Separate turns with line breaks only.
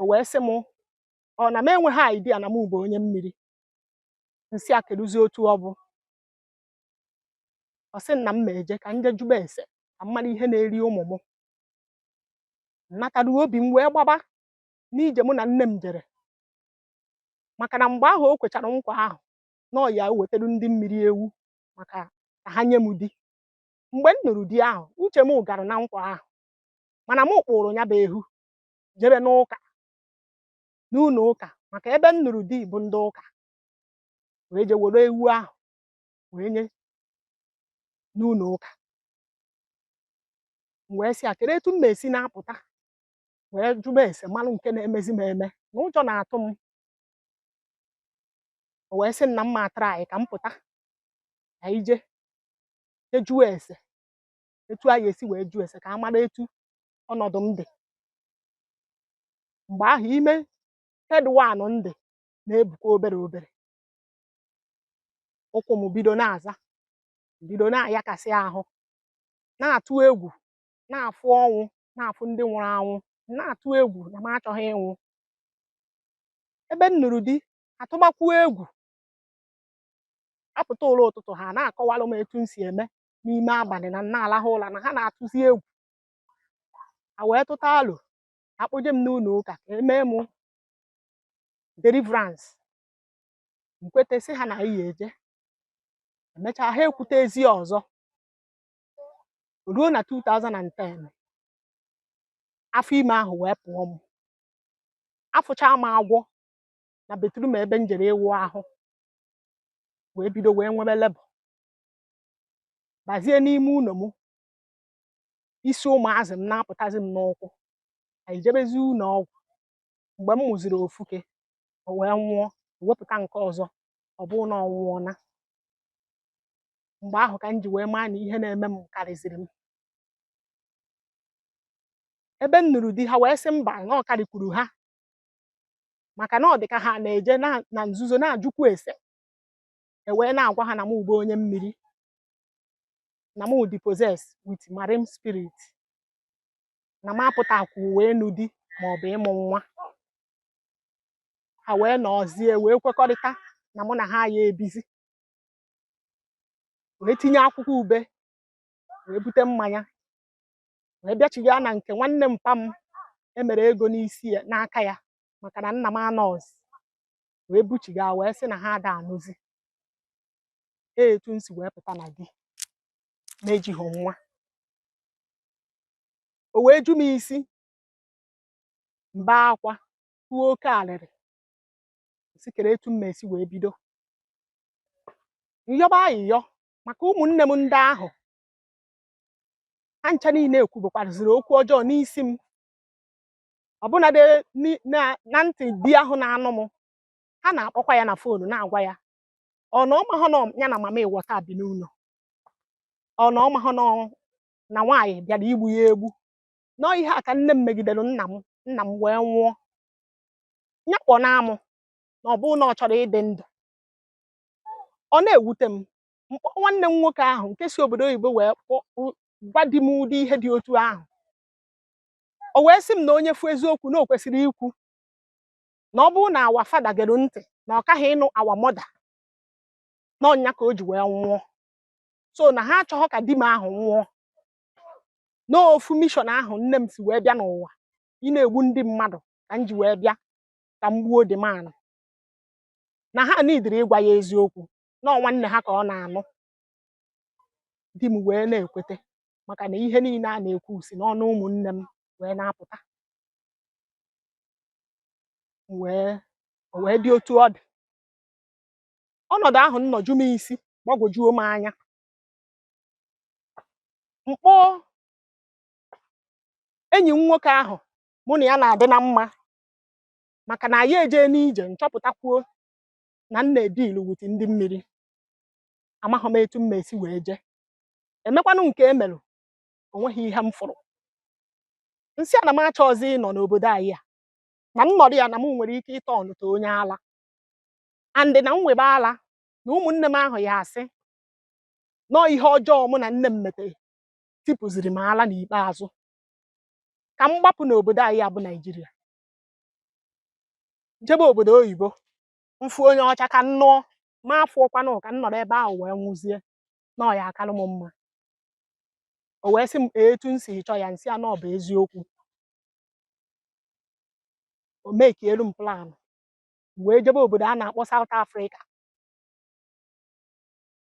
o wee sị m ọ na m enweghị idea na m bụ onye mmiri m sị a kedụzi otu ọ bụ ọ sị na m ma eje ka m jee jụba ese ka m mara ihe na-eri ụmụ m m nataruo obi m wee gbaba n'ije mụ na nne m jere maka na mgbe ahụ o kwechara nkwa ahụ na ọ ya ewetara ndị mmiri ewu maka ka ha nye m di mgbe m nụrụ di ahụ uche m gara na nkwa ahụ mana m kpụrụ ya bụ ewu jebe n'ụka n'ụlọ ụka maka ebe m nụrụ di bụ ndị ụka wee je were ewu ahụ wee nye n'ụlọ ụka m wee sị ya kedu etu m ma esi na-apụta wee jụba ese malụ nke na-emezi m eme na ụjọ na-atụ m o wee sị m na mma atara anyị ka m pụta ka anyị je jee jụọ ese etu a ya esi wee jụọ ese ka a mara etu ọnọdụ m dị mgbe ahụ ime third one m dị na-ebukwa obere obere ụkwụ m bido na-aza bido na-ayakasị ahụ na-atụ egwu na-afụ ọnwụ na-afụ ndị nwụrụ anwụ na-atụ egwu na m achọghị ịnwụ ebe m nụrụ di atụbakwuo egwu a pụta ụla ụtụtụ ha na-akọwalụ m etu m si eme n'ime abalị na m na-alahụ ụla na ha na-atụzi egwu a wee tụta alo a kpọje m n'ụlọ ụka ka e mee m deliverance m kweta sị ha na anyị ya eje emechaa ha ekwutezi ọzọ o ruo na 2010 afọ ime ahụ wee pụọ m afụchaa m agwọ na bathroom ebe m jere ịwụ ahụ wee bido wee nwebe labour bazie n'ime ụlọ m isi ụmụazị m na-apụtazi m n'ụkwụ anyị jebezi ụlọ ọgwụ mgbe m mụziri ofuke o wee nwụọ e wepụta nke ọzọ ọ bụrụ na ọ nwụọna mgbe ahụ ka m ji wee maa na ihe na-eme m karịziri m ebe m nụrụ di ha wee sị mba na ọ karịkwuru ha maka na ọ dị ka ha na-eje na nzuzo na-ajụkwu ese e wee na-agwa ha na m bụ onye mmiri na mụ dị possessed with marine spirit na m apụtakwu wee nụ di ma ọ bụ ịmụ nwa ha wee nọzie wee kwekọrịta na mụ na ha ya ebizi wee tinye akwụkwọ ube wee bute mmanya wee bịachiga na nke nwanne mpa m e mere ego n'isi ya n'aka ya maka na nna m anọzi wee buchiga wee sị na ha ada anụzi ee etu m si wee pụta na di na-ejighị nwa o wee ju m isi m bee akwa tụọ oke alịrị sị kere etu m ma-esi wee bido m yọba ayịyọ maka ụmụnne m ndị ahụ ha ncha niile ekwubekwaraziri okwu ọjọọ n'isi m ọbụnadị ni- na na ntị di ahụ na-anụ m ha na-akpọkwa ya na foonu na-agwa ya ọ na ọ mahọ na ya na mamịwọta bi n'ụlọ ọ na ọ mahọ na na nwaanyị bịara igbu ya egbu na ọ ihe a ka nne m megidere nna m nna m wee nwụọ ya kpọnaa mụ na ọ bụrụ na ọ chọrọ ịdị ndụ ọ na-ewute m m kpọọ nwanne m nwoke ahụ nke si obodo oyibo wee kpọ- kpụ- gwa di m ụdị ihe dị otu ahụ o wee sị m na onye fụ eziokwu na o kwesịrị ikwu na ọ bụrụ na our father gere ntị na ọ kaghị ịnụ our mother na ọ nya ka o ji wee nwụọ so na ha achọghọ ka di m ahụ nwụọ na ofu mission ahụ nne m si wee bịa n'ụwa ịna-egbu ndị mmadụ ka m ji wee bịa ka m gbuo di m ahụ na ha nidiri ịgwa ya eziokwu na ọ nwanne ha ka ọ na-anụ di m wee na-ekwete maka na ihe niile a na-ekwu si n'ọnụ ụmụnne m wee na-apụta o wee dị otu ọ dị ọnọdụ ahụ nnọọ ju m isi gbagwojuo m anya m kpọọ enyi m nwoke ahụ mụ na ya na-adị na mma maka na anyị ejee n'ije nchọpụtakwuo na m na-edealu with ndị mmiri amaghị m etu m ma-esi wee jee e mekwanụ nke e melụ o nweghị ihe m fụrụ m sị ya na m achọghịzị ịnọ n'obodo anyị a na m nọrọ ya na m nwere ike ịturn to onye ala and na m wịbe ala na ụmụnne m ahụ ya-asị na ọ ihe ọjọọ mụ na nne m metere tipụziri m ala n'ikpeazụ ka m gbapụ n'obodo anyị a bụ Nigeria jebe obodo oyibo m fụ onye ọcha ka m nụọ ma afụhọkwanụ ka m nọrọ ebe ahụ wee nwụzie na ọ ya-akalụ m mma o wee sị m etu m si chọọ ya m sị ya na ọ bụ eziokwu o mekielu m plan wee jebe obodo a na-akpọ South Africa